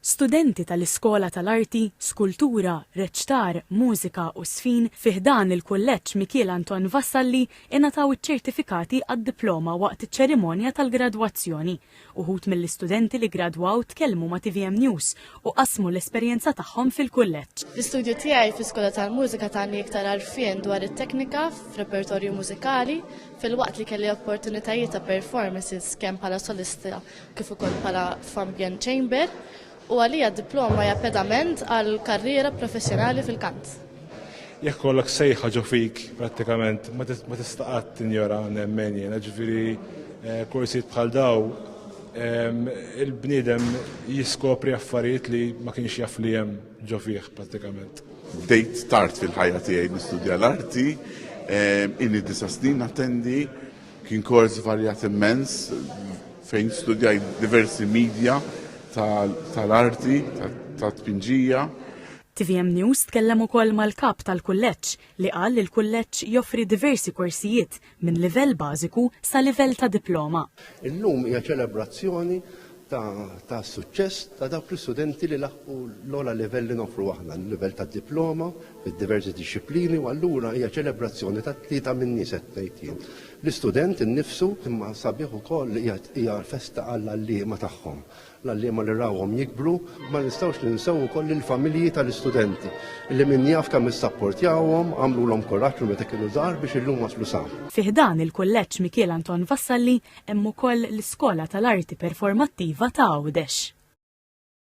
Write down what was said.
Studenti tal-Iskola tal-Arti, Skultura, Reċtar, Mużika u Żfin fi ħdan il-Kulleġġ Mikiel Anton Vassalli ingħataw iċ-ċertifikati għad-diploma waqt iċ-ċerimonja tal-gradwazzjoni. Uħud mill-istudenti li gradwaw tkellmu ma' tvm News u qasmu l-esperjenza tagħhom fil-kulleġġ. L-istudju tiegħi fl-Iskola tal-Mużika tani iktar għarfien dwar it-teknika f'repertorju mużikali filwaqt li kelli opportunitajiet ta' performances kemm bħala solista kif ukoll bħala f'ambjent chamber u għalija d-diploma hija pedament għal karriera professjonali fil-kant. Jekk kollok sejħa ġo fik prattikament ma tista' qatt tinjora nemmen jiena ġifieri eh, korsijiet bħal daw ehm, il-bniedem jiskopri affarijiet li ma kienx jaf li hemm ġo fih prattikament. Bdejt tard fil-ħajja tiegħi nistudja l-arti, ehm, inni disa snin attendi Kien kors varjat immens fejn studjajt diversi midja tal-arti, tat-tpinġija. Tvm News tkellem ukoll mal-Kap tal-Kulleġġ li qal li l-Kulleġġ joffri diversi korsijiet minn livell bażiku sa livell ta' diploma. Illum hija ċelebrazzjoni ta' suċċess ta' dawk l-istudenti li laħqu l-ogħla livell li noffru aħna, l-livell tad-diploma fid-diversi dixxiplini u allura hija ċelebrazzjoni tat-tlieta minnhi se ngħid jien. L-istudent innifsu imma sabiħ ukoll li hija festa għall-għalliema tagħhom, l-għalliema li rawhom jikbru. Ma nistgħux ninsew ukoll lill-familji tal-istudenti li min jaf kemm issapportjawhom, għamlulhom kuraġġ minn meta kienu żgħar biex illum waslu sa. Fi ħdan il-Kulleġġ Mikiel Anton Vassalli Hemm ukoll l-Iskola tal-Arti Performattiva ta' Għawdex.